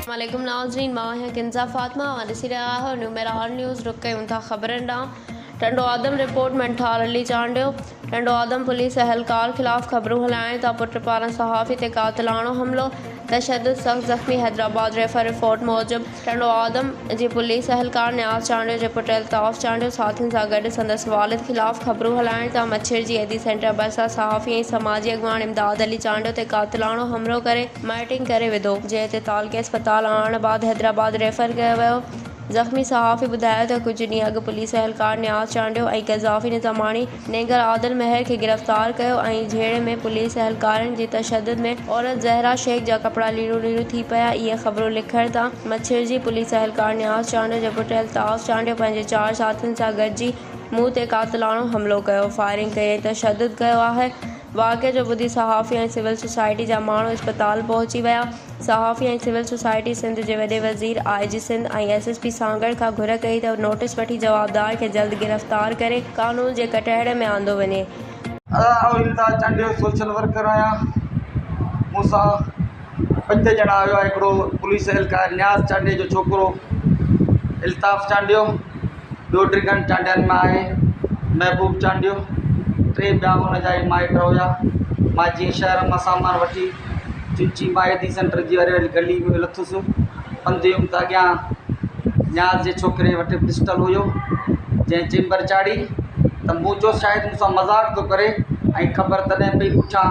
السلام عليڪم ناظرين مان آهيان ڪنزا فاطمه اوهان ڏسي رهيا آهيو نيو ميرا آل نيوز رخ ڪيون ٿا خبرن ڏانهن ٽنڊو آدم رپورٽ ۾ ٺار علي چانڊيو ٽنڊو آدم پوليس اهلڪار خلاف خبرون هلائين ٿا پٽ پاران صحافي تي قاتلاڻو حملو تشدد سخت زخمي حيدرآباد ريفر رپورٽ موجب ٽنڊو آدم جي پوليس اهلڪار نياز چانڊيو جي پٽ الطاف چانڊيو ساٿين سان گڏ سندس والد خلاف خبرون هلائڻ تان مڇير جي ايڌي سينٽر ڀرسان صحافي ۽ سماجي اڳواڻ امداد علي چانڊيو تي قاتلاڻو حمرو ڪري مائٽنگ ڪري وڌو جنهن تي تعلقي اسپتال آڻڻ بعد حيدرآباد ريفر ڪيو ويو زخمي صحافي ٻڌايو ته ڪجهه ڏينهن اڳ پوليس اهلڪار نياز چانڊيو ۽ قذافي نظاماڻي نينگر عادل مهر کي گرفتار ڪيو ۽ جهيڙي ۾ پوليس اهلڪارن جي تشدد ۾ عورت زهرا شيخ جا ڪپڙا ليرون ليرون ٿي پيا اهي خبرون لکڻ تان مڇرجي پوليس اهلڪار نياز چانڊيو جو پٽ الطاف چانڊيو پنهنجي چار ساٿين سان گڏجي مون تي قاتلاڻو حملو ڪيو فائرنگ ڪئي ۽ تشدد ڪيو آهي واقعي جو ٻڌي صحافي ۽ سول سوسائٽي جا ماڻهو اسپتال پهچي ويا. صحافي ۽ سول سوسائٽي سنڌ جي وڏي وزير، I G Sindh ۽ S S P Sanghar کان گهر ڪئي ته نوٽيس وٺي جوابدار کي جلد گرفتار ڪري قانون جي ڪٽهڙي ۾ آندو وڃي. آء امتياز چانڊيو سوشل ورڪر آهيان مون سان پنج ڄڻا هيا هڪڙو پوليس اهلڪار نياز چانڊيي جو ڇوڪرو الطاف چانڊيو ٻيو ڊگهن چانڊين مان آهي محبوب چانڊيو ٽي ٻيا ان جا ئي مائٽ هيا مان جيئن شهر مان سامان وٺي چچي مائيدي سينٽر جي واري واري گلي ۾ لٿس پنڌ ويم ته اڳيان نياز جي ڇوڪري وٽ پسٽل هيو جنهن چيمبر چاڙهي ته مون چوس شايد مون سان مذاق ٿو ڪري ۽ خبر تڏهن پئي پڇان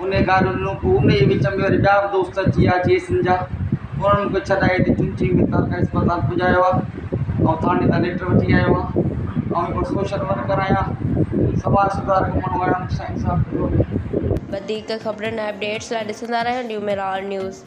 انهيء گاڏو ڏنو، پوء انهيء جي وچ ۾ وري ٻيا به دوست اچي ويا جي ايس اين جا، انهن مون کي ڇڏائي هتي چنچني ۾ تارڪا اسپتال پڄايو آ، آئون ٿاڻي تان ليٽر وٺي آيو آهيان، آئون هڪڙو سوشل ورڪر آهيان، سماج سڌارڪ ماڻهو آهيان، مون کي سائين صاحب چيو. وڌيڪ خبرن ۽ اپڊيٽس لاء ڏسندا رهيو نيو ميرار نيوز.